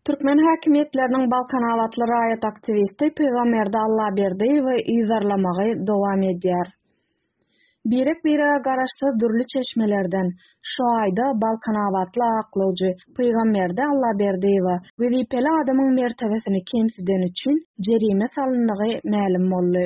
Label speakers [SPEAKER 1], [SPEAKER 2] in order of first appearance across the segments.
[SPEAKER 1] Türkmen häkimiýetleriniň balkanabatly raýat aktiwisti Pygamberdi Allaberdiýewi yzarlamagy dowam edýär. Birek-birege garaşsyz dürli çeşmelerden, şu aýda balkanabatly aklawjy Pygamberdi Allaberdiýewe wezipeli adamyň mertebesini kemsideni üçin jerime salyndygy mälim boldy.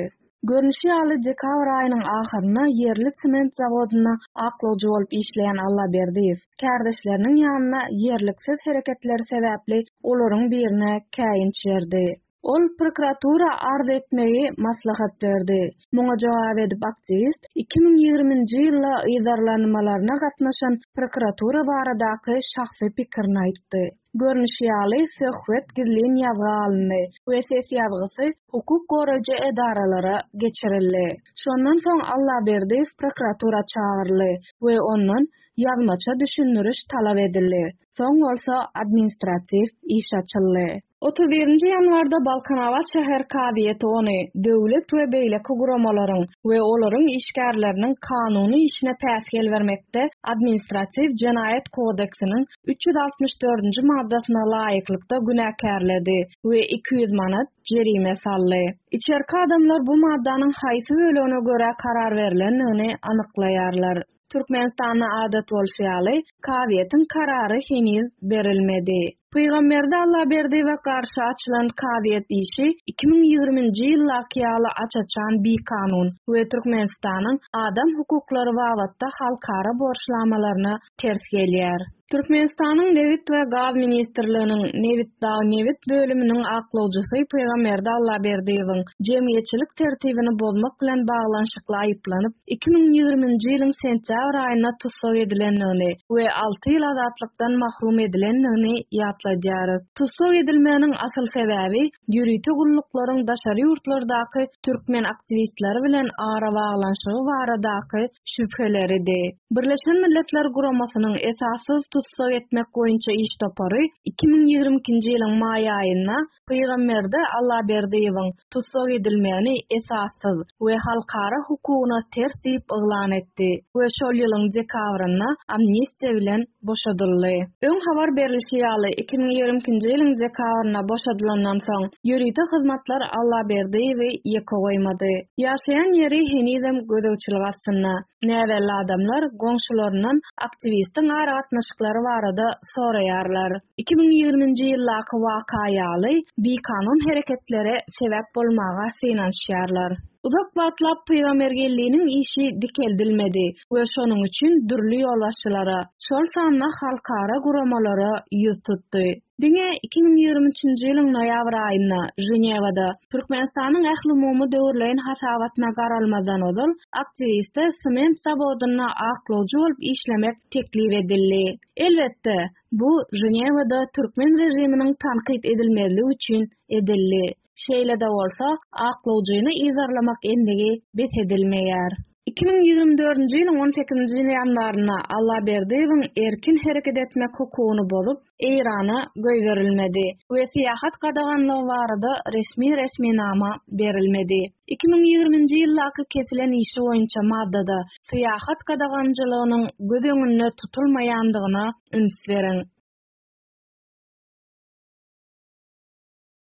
[SPEAKER 1] Görnüşi ýaly, dekabr aýynyň ahyrynda ýerli sement zawodynda aklawjy bolup işleýän Allaberdiýew, kärdeşleriniň ýanyna ýerliksiz hereketleri sebäpli olaryň birine käýinç berdi. Ol prokuratura arz etmegi maslahat berdi. Muňa jogap edip aktiwist iki müň ýigrimi nji ýylda yzarlanmalaryna gatnaşan prokuratura baradaky şahsy pikirini aýtdy. Görnüşi ýaly, söhbet gizlin ýazga alyndy we ses ýazgysy hukuk goraýjy edaralara geçirildi. Şondan soň Allaberdiýew prokuratura çagyryldy we ondan ýazmaça düşündiriş talap edildi, soň bolsa administratiw iş açyldy. Otuz birinji ýanwarda Balkanabat şäher kazyýeti ony döwlet we beýleki guramalaryň we olaryň işgärleriniň kanuny işine päsgel bermekde Administratiw jenaýat kodeksiniň üç ýüz altmyş dördünji maddasyna laýyklykda günäkärledi we iki ýüz manat jerime saldy. Içerki adamlar bu maddanyň haýsy bölegine görä karar berlendigini anyklaýarlar. Türkmenistanda adat bolşy ýaly, kazyýetiň karary heniz berilmedi. Pygamberdi Allaberdiýewe garşy açylan kazyýet işi iki müň ýigriminji ýyldaky ýaly aç-açan bikanun we Türkmenistanyň adam hukuklary babatda halkara borçnamalaryna ters gelýär. Türkmenistanyň Nebit we gaz ministrliginiň Nebitdagnebit bölüminiň aklawjysy Pygamberdi Allaberdiýewiň jemgyýetçilik tertibini bozmak bilen baglanyşykly aýyplanyp, iki müň ýigriminji ýylyň sentýabr aýynda tussag edilendigini we alty ýyl azatlykdan mahrum edilendigini ýatladýarys. Tussag edilmeginiň asyl sebäbi ýörite gulluklaryň daşary ýurtlardaky türkmen aktiwistleri bilen arabaglanyşygy baradaky şübheleridi. Birleşen Milletler Guramasynyň Esassyz tussag etmek boýunça iş topary iki müň ýigrimi ikinji ýylyň maý aýynda Pygamberde Allaberdiýewiň tussag edilmegini esassyz we halkara hukugyna ters diýip yglan etdi we şol ýylyň dekabrynda amnistiýa bilen boşadyldy. Öň habar berlişi ýaly, iki müň ýigrimi ikinji ýylyň dekabrynda boşadylandan soň, ýörite hyzmatlar Allaberdiýewi ýeke goýmady. Ýaşaýan ýeri henizem gözegçilik astynda. Näbelli adamlar goňşularyndan aktiwistiň aragatnaşyklary barada soraýarlar. Iki müň ýigriminji ýyldaky waka ýaly, bikanun hereketlere sebäp bolmaga synanyşýarlar. Uzak wagtlap Pygamergelliniň işi dikeldilmedi we şonuň üçin dürli ýolbaşçylara, şol sanda halkara guramalara ýüz tutdy. Diňe iki müň ýigrimi üçünji ýylyň noýabr aýynda, Ženewada, Türkmenistanyň ählumumy döwürleýin hasabatyna garalmazdan ozal, aktiwiste sement zawodynda aklawjy bolup işlemek teklip edildi. Elbetde, bu Ženewada türkmen režiminiň tankyt edilmezligi üçin edildi. Şeýle-de bolsa, aklawjyny yzarlamak endigi bes edilmeýär. Iki müň ýigrimi dördünji ýylyň on sekizinji ýanwarynda Allaberdiýewiň erkin hereket etmek hukugyny bozup, Eýrana goýberilmedi we syýahat gadaganlygy barada resmi resminama berilmedi. Iki müň ýigriminji ýyldaky kesilen işi boýunça maddada syýahat gadaganjylygynyň göz öňünde tutulmaýandygyna üns beriň.